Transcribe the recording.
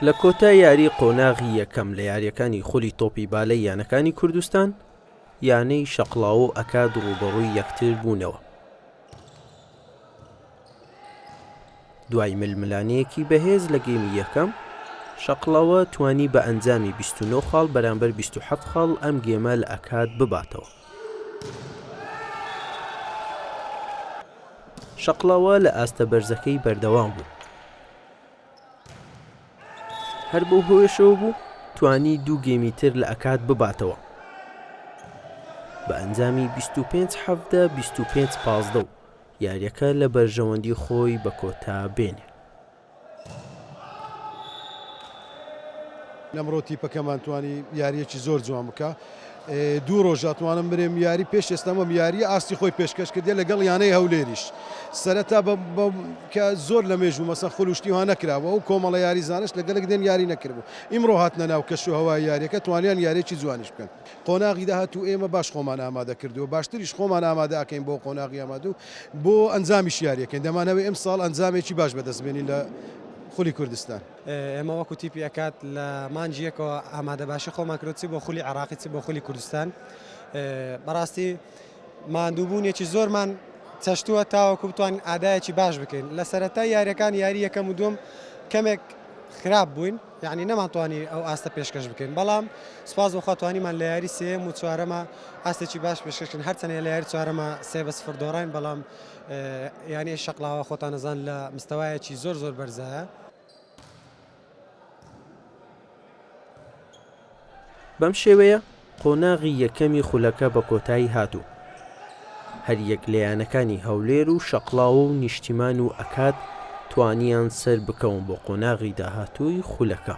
لە کۆتا یاری قۆناغی یەکەم لە یاریەکانی خولی تۆپی بالەی یانەکانی کوردستان یانەی شەقلاوە و ئەکاد ڕووبەڕووی یەکتر بوونەوە دوای ململانێیەکی بەهێز لە گێمی یەکەم، شەقڵەوە توانی بە ئەنجامی بیست و نۆ خاڵ بەرامبەر بیست و حەفت خاڵ ئەم گێمە لە ئەکاد بباتەوە. شەقڵەوە لە ئاستە بەرزەکەی بەردەوام بوو، هەر بەو هۆیەشەوە بوو توانی دوو گێمی تر لە ئەکاد بباتەوە بە ئەنجامی بیست و پێنج حەڤدە، بیست و پێنج پازدە و یاریەکە لە بەرژەوەندی خۆی بە کۆتا بێنێ. لەمڕۆ تیپەکەمان توانی یاریەکی زۆر جوان بکە دوو ڕۆژ ئەتوانم برێم یاری پێش ئێستامەم یاری ئاستی خۆی پێشکەش کردێ لەگەڵ یانەی هەولێریش سەرەتا کە زۆر لە مێژوو مەسە خولشتی ها نەکراوە و کۆمەڵە یاری زانش لەگەلک دێن یاری نەکردبوو ئیمڕۆ هاتنە ناو کەش و هەوای یاریەکە توانیان یاریی جوانیش بکەن قۆناغی داهاتوو ئێمە باش خۆمان ئامادە کردووە، باشتریش خۆمان ئامادە ئەکەین بۆ قۆناغی ئامادوو بۆ ئەنجامیش یاریەکەین، دەمانەوێ ئەمساڵ ئەنجامێکی باش بەدەست بێنین لە خولی کوردستان. ئێمە وەکو تیپی ئەکاد لە مانگی یەکەوە ئامادە باشی خۆمان کردووە چ بۆ خولی عێراقی چ بۆ خولی کوردستان، بەڕاستی ماندووبوونێکی زۆرمان چەشتووە تاوەکو بتوانین ئادایەکی باش بکەین، لە سەرەتای یاریەکان یاری یەکەم و دووەم کەمێک خراپ بووین، یانی نەمانتوانی ئەو ئاستە پێشکەش بکەین بەڵام سوپاس بۆخوا توانیمان لە یاری سێیەم و چوارەمە ئاستێکی باش پێشکەشکن هەرچەنە لە یاری چوارەمە سێ بە سفر دۆڕاین بەڵام یانی شەقلاوە خۆتانەزان لە مستەوایەکی زۆر زۆر بەرزایە بەم شێوەیە قۆناغی یەکەمی خولەکە بە کۆتایی هات و هەریەک لە یانەکانی هەولێر و شەقڵاوە و نیشتیمان و ئەکاد توانیان سەربکەون بۆ قۆناغی داهاتووی خولەکە.